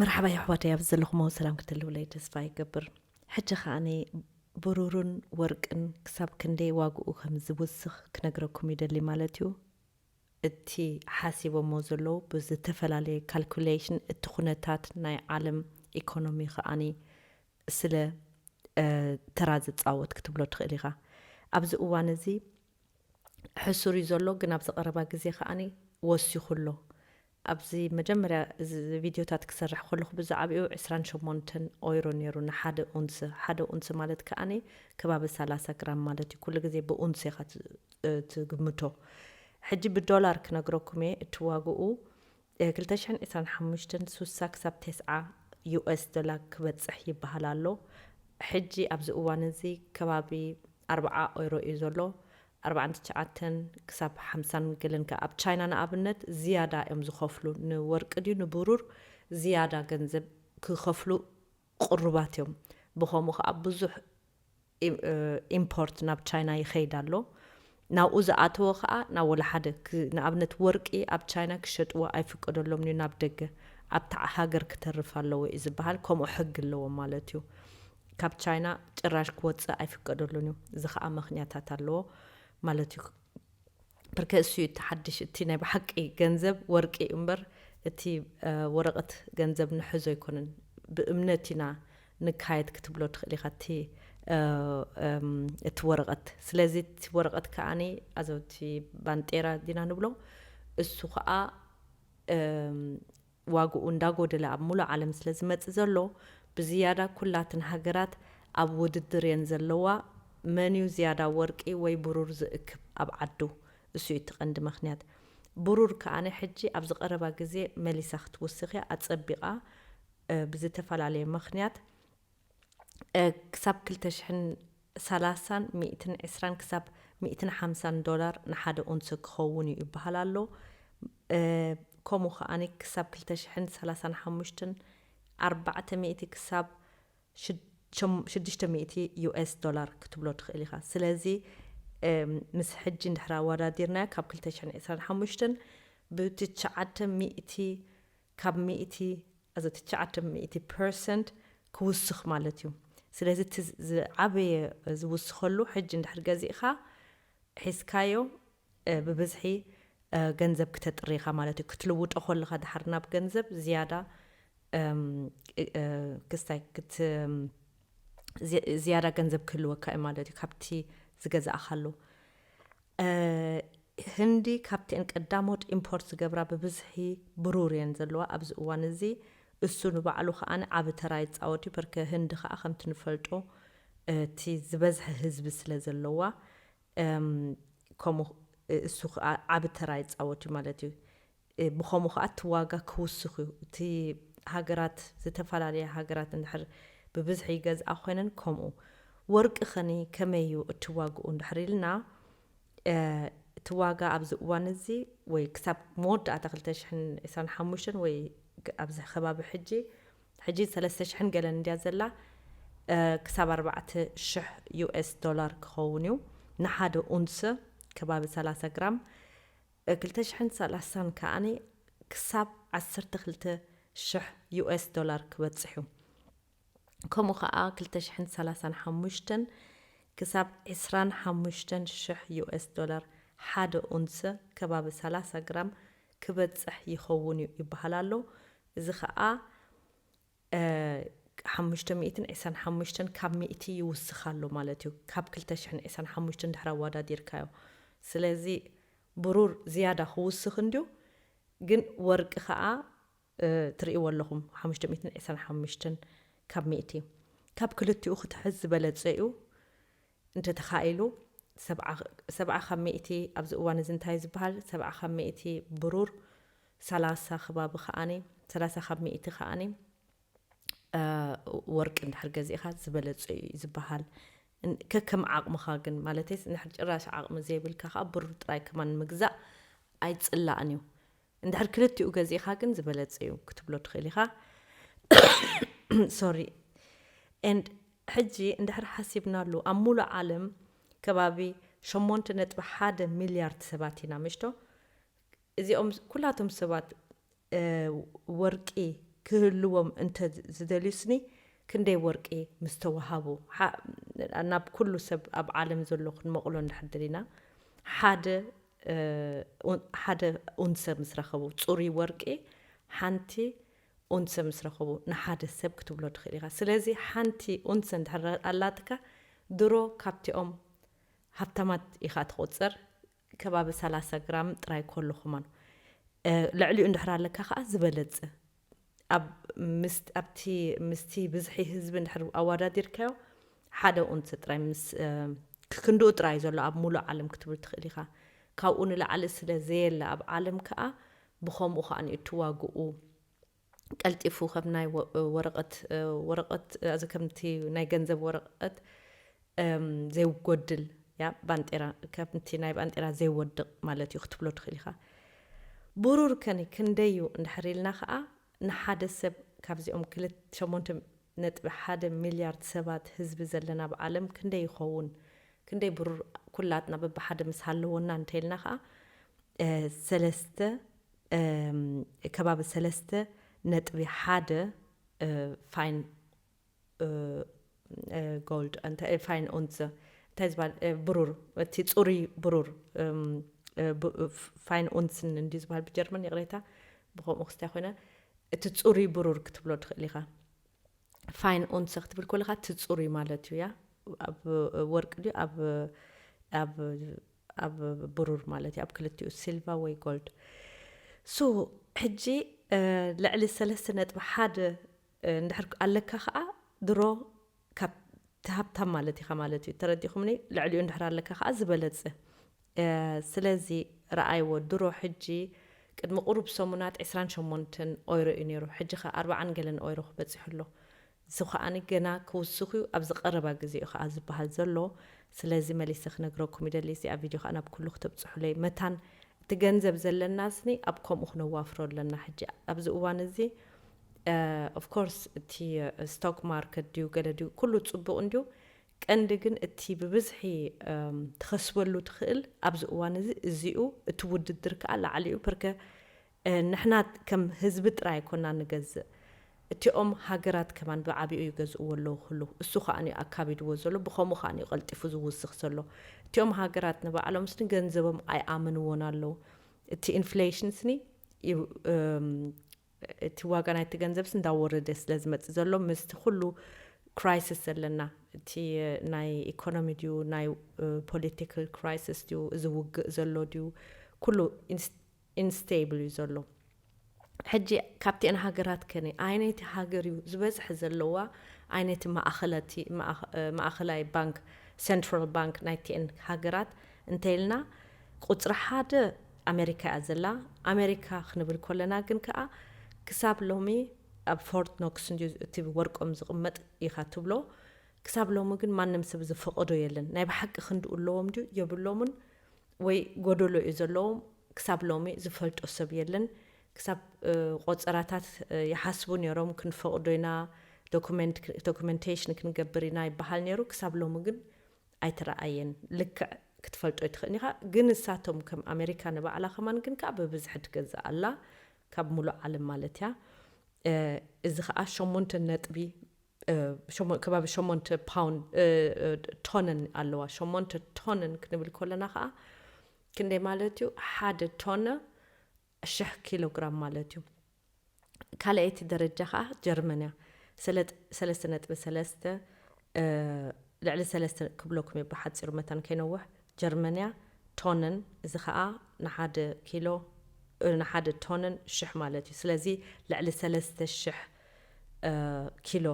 መርሓባ የሕዋተይ ኣብዚ ዘለኹሞ ሰላም ክትህልውለይ ተስፋ ይገብር ሕጂ ከኣ ብሩርን ወርቅን ክሳብ ክንደይ ዋግኡ ከም ዝውስኽ ክነግረኩም ይደሊ ማለት እዩ እቲ ሓሲቦሞ ዘለዉ ብዝተፈላለየ ካልኩሌሽን እቲ ኩነታት ናይ ዓለም ኢኮኖሚ ከኣ ስለ ተራ ዝጻወት ክትብሎ ትኽእል ኢኻ ኣብዚ እዋን እዚ ሕሱር እዩ ዘሎ ግን ኣብዚ ቀረባ ግዜ ከኣ ወሲኹ ኣሎ ኣብዚ መጀመርያ እዚ ቪድዮታት ክሰርሕ ከለኹ ብዝዓብኡ ዕስራን ሸሞንተን ኦይሮ ነይሩ ንሓደ ኡንስ፣ ሓደ ኡንስ ማለት ከኣ ከባቢ ሰላሳ ግራም ማለት እዩ፣ ኩሉ ግዜ ብኡንስ ኢኻ ትግምቶ። ሕጂ ብዶላር ክነግረኩም እየ፣ እቲ ዋግኡ ክልተ ሽሕን ዕስራን ሓሙሽተን ሱሳ ክሳብ ተስዓ ዩኤስ ዶላር ክበጽሕ ይበሃል ኣሎ፣ ሕጂ ኣብዚ እዋን እዚ ከባቢ ኣርብዓ ኦይሮ እዩ ዘሎ፣ ኣርባዓን ትሽዓተን ክሳብ ሓምሳን ገለን ከኣ ኣብ ቻይና ንኣብነት ዝያዳ እዮም ዝኸፍሉ ንወርቂ ድዩ ንብሩር ዝያዳ ገንዘብ ክኸፍሉ ቅሩባት እዮም ብኸምኡ ከኣ ብዙሕ ኢምፖርት ናብ ቻይና ይኸይድ ኣሎ ናብኡ ዝኣተወ ከኣ ናብ ወላሓደ ንኣብነት ወርቂ ኣብ ቻይና ክሸጥዎ ኣይፍቀደሎምን እዩ ናብ ደገ ኣብታ ሃገር ክተርፍ ኣለዎ እዩ ዝበሃል ከምኡ ሕጊ ኣለዎም ማለት እዩ ካብ ቻይና ጭራሽ ክወጽእ ኣይፍቀደሉን እዩ እዚ ከኣ መክንያታት ኣለዎ ማለት እዩ ብርከ እሱ እቲ ሓድሽ እቲ ናይ ብሓቂ ገንዘብ ወርቂ እዩ እምበር እቲ ወረቀት ገንዘብ ንሕዞ ኣይኮነን ብእምነት ኢና ንካየድ ክትብሎ ትኽእል ኢኻ እቲ እቲ ወረቀት ስለዚ እቲ ወረቀት ከኣኒ ኣዘውቲ ባንጤራ ዲና ንብሎ እሱ ከኣ ዋግኡ እንዳጎደለ ኣብ ሙሉእ ዓለም ስለ ዝመጽእ ዘሎ ብዝያዳ ኩላትን ሃገራት ኣብ ውድድር እየን ዘለዋ መንዩ ዝያዳ ወርቂ ወይ ብሩር ዝእክብ ኣብ ዓዱ እሱ እዩ እቲ ቀንዲ መክንያት ብሩር ከኣ ሕጂ ኣብዚ ቀረባ ግዜ መሊሳ ክትውስክ እያ ኣጸቢቃ ብዝተፈላለየ መክንያት ክሳብ ክልተ ሽሕን ሰላሳን ሚእትን ዕስራን ክሳብ ሚእትን ሓምሳን ዶላር ንሓደ ኡንሰ ክኸውን'ዩ ይበሃል ኣሎ። ከምኡ ከኣ ክሳብ ክልተ ሽሕን ሰላሳን ሓሙሽተን ኣርባዕተ ሚእቲ ክሳብ ሽዱሽተ ሚእቲ ዩኤስ ዶላር ክትብሎ ትኽእል ኢኻ። ስለዚ ምስ ሕጂ እንድሕር ኣወዳዲርናዮ ካብ ክልተ ሽሕን ዕስራን ሓሙሽተን ብትሽዓተ ሚእቲ ካብ ሚእቲ ኣዚ ትሽዓተ ሚእቲ ፐርሰንት ክውስኽ ማለት እዩ ስለዚ እቲ ዝዓበየ ዝውስኸሉ ሕጂ እንድሕር ገዚእኻ ሒዝካዮ ብብዝሒ ገንዘብ ክተጥሪ ኢኻ ማለት እዩ ክትልውጦ ኮለኻ ድሓር ናብ ገንዘብ ዝያዳ ክስታይ ክት ዝያዳ ገንዘብ ክህልወካ እዩ ማለት እዩ ካብቲ ዝገዛእኻሉ ህንዲ ካብቲኤን ቀዳሞት ኢምፖርት ዝገብራ ብብዝሒ ብሩር እየን ዘለዋ ኣብዚ እዋን እዚ እሱ ንባዕሉ ከኣ ዓቢ ተራ ይጻወት እዩ ፐርከ ህንዲ ከኣ ከምቲ ንፈልጦ እቲ ዝበዝሐ ህዝቢ ስለ ዘለዋ ከምኡ እሱ ከኣ ዓቢ ተራ ይጻወት እዩ ማለት እዩ ብኸምኡ ከኣ እቲ ዋጋ ክውስኽ እዩ። እቲ ሃገራት ዝተፈላለያ ሃገራት እንድሕር ብብዝሒ ይገዝኣ ኮይነን ከምኡ። ወርቂ ከኒ ከመይ እዩ እቲ ዋግኡ እንድሕር ኢልና እቲ ዋጋ ኣብዚ እዋን እዚ ወይ ክሳብ መወዳእታ ክልተ ሽሕን ዕስራን ሓሙሽተን ወይ ኣብዚ ከባቢ ሕጂ ሕጂ ሰለስተ ሽሕን ገለን እንድያ ዘላ ክሳብ ኣርባዕተ ሽሕ ዩኤስ ዶላር ክኸውን እዩ ንሓደ ኡንስ ከባቢ ሰላሳ ግራም ብ ክልተ ሽሕን ሰላሳን ከኣ ክሳብ ዓሰርተ ክልተ ሽሕ ዩኤስ ዶላር ክበጽሕ እዩ። ከምኡ ከኣ ክልተ ሽሕን ሰላሳን ሓሙሽተን ክሳብ ዕስራን ሓሙሽተን ሽሕ ዩኤስ ዶላር ሓደ ኡንሰ፣ ከባቢ ሰላሳ ግራም፣ ክበጽሕ ይኸውን'ዩ ይበሃል ኣሎ። እዚ ከኣ። ሓሙሽተ ሚእትን ዒስራን ሓሙሽተን ካብ ሚእቲ ይውስኽ ኣሎ ማለት እዩ ካብ ክልተ ሽሕን ዒስራን ሓሙሽተን ድሕሪ ኣዋዳዲርካዮ ስለዚ ብሩር ዝያዳ ክውስኽ እንድዩ ግን ወርቂ ከኣ ትርእይዎ ኣለኹም ሓሙሽተ ሚእትን ዒስራን ሓሙሽተን ካብ ሚእቲ ካብ ክልቲኡ ክትሕዝ ዝበለጸ እዩ እንተተኻኢሉ ሰብዓ ሰብዓ ካብ ሚእቲ ኣብዚ እዋን እዚ እንታይ እዩ ዝበሃል ሰብዓ ካብ ሚእቲ ብሩር ሰላሳ ከባቢ ከኣኒ ሰላሳ ካብ ሚእቲ ከኣኒ ወርቂ እንድሕር ገዚእኻ ዝበለጸ እዩ እዩ ዝበሃል ከከም ዓቕምኻ ግን ማለተይስ እንድሕር ጭራሽ ዓቕሚ ዘይብልካ ከዓ ብሩር ጥራይ ከማን ምግዛእ ኣይጽላእን እዩ እንድሕር ክልቲኡ ገዚእኻ ግን ዝበለጸ እዩ ክትብሎ ትኽእል ኢኻ ሶሪ and ሕጂ እንድሕር ሓሲብናሉ ኣብ ሙሉእ ዓለም ከባቢ ሸሞንተ ነጥቢ ሓደ ሚልያርድ ሰባት ኢና ምሽቶ እዚኦም ኩላቶም ሰባት ወርቂ ክህልዎም እንተ ዝደልዩስኒ ክንደይ ወርቂ ምስ ተዋሃቡ ናብ ኩሉ ሰብ ኣብ ዓለም ዘሎ ክንመቕሎ እንድሕር ደሊና ሓደ ሓደ ኡንሰ ምስ ረኸቡ፣ ጽሩይ ወርቂ ሓንቲ ኡንሰ ምስ ረኸቡ ንሓደ ሰብ ክትብሎ ትኽእል ኢኻ። ስለዚ ሓንቲ ኡንሰ እንድሕር ኣላትካ ድሮ ካብቲኦም ሃብታማት ኢኻ ትቑጸር፣ ከባቢ ሰላሳ ግራም ጥራይ ኮሎ ክማኑ ልዕሊኡ እንድሕር ኣለካ ከኣ ዝበለጸ ኣብቲ ምስቲ ብዝሒ ህዝቢ እንድሕር ኣዋዳዲርካዮ ሓደ ኡንስ ጥራይ ምስ ክክንድኡ ጥራይ ዘሎ ኣብ ሙሉእ ዓለም ክትብል ትክእል ኢካ ካብኡ ንላዕሊ ስለ ዘየለ ኣብ ዓለም ከኣ ብከምኡ ከኣ እቲ ዋግኡ ቀልጢፉ ከም ናይ ወረቀት ወረቀት ከምቲ ናይ ገንዘብ ወረቀት ዘይጎድል ያብ ባንጤራ ከምቲ ናይ ባንጤራ ዘይወድቕ ማለት እዩ ክትብሎ ትኽእል ኢኻ። ብሩር ከኒ ክንደይ እዩ እንድሕር ኢልና ከኣ ንሓደ ሰብ ካብዚኦም ክልተ ሸሞንተ ነጥቢ ሓደ ሚልያርድ ሰባት ህዝቢ ዘለና ኣብ ዓለም ክንደይ ይኸውን ክንደይ ብሩር ኩላትና በብሓደ ምስ ሃለዎና እንተኢልና ከኣ ሰለስተ ከባቢ ሰለስተ ነጥቢ ሓደ ፋይን ጎልድ እንታይ ፋይን ኡንዘ እንታይ ዝበሃል ብሩር እቲ ፅሩይ ብሩር ፋይን ኡንስን እንዲ ዝበሃል ብጀርመን ይቕሬታ ብከምኡ ክስታይ ኮይነ እቲ ፅሩይ ብሩር ክትብሎ ትኽእል ኢኻ ፋይን ኡንሰ ክትብል ኮለካ እቲ ፅሩይ ማለት እዩ ያ ኣብ ወርቂ ድዩ ኣብ ብሩር ማለት እዩ ኣብ ክልቲኡ ሲልቫ ወይ ጎልድ ሶ ሕጂ ልዕሊ ሰለስተ ነጥቢ ሓደ እንድሕር ኣለካ ከኣ ድሮ ካብ እቲ ሃብታም ማለት ኢኻ ማለት እዩ ተረዲእኹምኒ ልዕሊኡ እንድሕር ኣለካ ከኣ ዝበለጸ ስለዚ ረኣይዎ ድሮ ሕጂ ቅድሚ ቁሩብ ሰሙናት ዕስራን ሸሞንተን ኦይሮ እዩ ኔሩ ሕጂ ከኣ ኣርባዓን ገለን ኦይሮ ክበጽሕ ኣሎ እዚ ከኣ ገና ክውስኽ እዩ ኣብዚ ቀረባ ግዜ እዩ ከኣ ዝበሃል ዘሎ ስለዚ መሊሰ ክነግረኩም ይደሊ እዚኣ ቪድዮ ከኣ ናብ ኩሉ ክተብጽሑለይ መታን እቲ ገንዘብ ዘለናስኒ ኣብ ከምኡ ክነዋፍሮ ኣለና ሕጂ ኣብዚ እዋን እዚ ኦፍ ኮርስ እቲ ስቶክ ማርኬት ድዩ ገለ ድዩ ኩሉ ጽቡቕ እንድዩ ቀንዲ ግን እቲ ብብዝሒ ትኸስበሉ ትኽእል ኣብዚ እዋን እዚ እዚኡ እቲ ውድድር ከኣ ላዕሊኡ ፕርከ ንሕና ከም ህዝቢ ጥራይ ኣይኮና ንገዝእ እቲኦም ሃገራት ከማን ብዓቢኡ ይገዝእዎ ኣለዉ ክሉ እሱ ከኣንዩ ኣካቢድዎ ዘሎ ብኸምኡ ከኣንዩ ቀልጢፉ ዝውስኽ ዘሎ እቲኦም ሃገራት ንባዕሎም ስኒ ገንዘቦም ኣይኣምንዎን ኣለዉ እቲ ኢንፍሌሽን ስኒ እቲ ዋጋ ናይቲ ገንዘብስ እንዳወረደ ስለ ዝመጽእ ዘሎ ምስቲ ኩሉ ክራይስስ ዘለና እቲ ናይ ኢኮኖሚ ድዩ ናይ ፖለቲካል ክራይስስ ድዩ እዚ ውግእ ዘሎ ድዩ ኩሉ ኢንስቴብል እዩ ዘሎ ሕጂ ካብቲኤን ሃገራት ከነ ኣይነይቲ ሃገር እዩ ዝበዝሐ ዘለዋ ኣይነቲ ማእኸለቲ ማእኸላይ ባንክ ሰንትራል ባንክ ናይቲኤን ሃገራት እንተይልና ቁጽሪ ሓደ ኣመሪካ እያ ዘላ ኣመሪካ ክንብል ኮለና ግን ከኣ ክሳብ ሎሚ ኣብ ፎርት ኖክስ እንድዩ እቲ ወርቆም ዝቅመጥ ኢካ ትብሎ ክሳብ ሎሚ ግን ማንም ሰብ ዝፈቀዶ የለን ናይ ብሓቂ ክንድኡ ኣለዎም ድዩ የብሎሙን ወይ ጎደሎ እዩ ዘለዎም ክሳብ ሎሚ ዝፈልጦ ሰብ የለን ክሳብ ቆጸራታት ይሓስቡ ኔሮም ክንፈቅዶ ኢና ዶኩመንት ዶኩመንቴሽን ክንገብር ኢና ይበሃል ኔሩ ክሳብ ሎሚ ግን ኣይትረኣየን ልክዕ ክትፈልጦ ኣይትኽእን ኢኻ ግን ንሳቶም ከም ኣመሪካ ንባዕላ ከማን ግን ከኣ ብብዝሒ ትገዝእ ኣላ ካብ ምሉእ ዓለም ማለት እያ እዚ ከኣ ሸሞንተ ነጥቢ ከባቢ ሸሞንተ ፓውንድ ቶንን ኣለዋ ሸሞንተ ቶንን ክንብል ከለና ከኣ ክንደይ ማለት እዩ ሓደ ቶነ ሽሕ ኪሎግራም ማለት እዩ ካልኣይቲ ደረጃ ከኣ ጀርመን እያ ሰለጥ ሰለስተ ነጥቢ ሰለስተ ልዕሊ ሰለስተ ክብለኩም እየ ብሓጺሩ መታን ከይነውሕ ጀርመን እያ ቶንን እዚ ከኣ ንሓደ ኪሎ ንሓደ ቶንን ሽሕ ማለት እዩ ስለዚ ልዕሊ ሰለስተ ሽሕ ኪሎ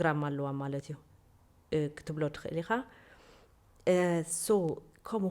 ግራም ኣለዋ ማለት እዩ ክትብሎ ትኽእል ኢኻ ሶ ከምኡ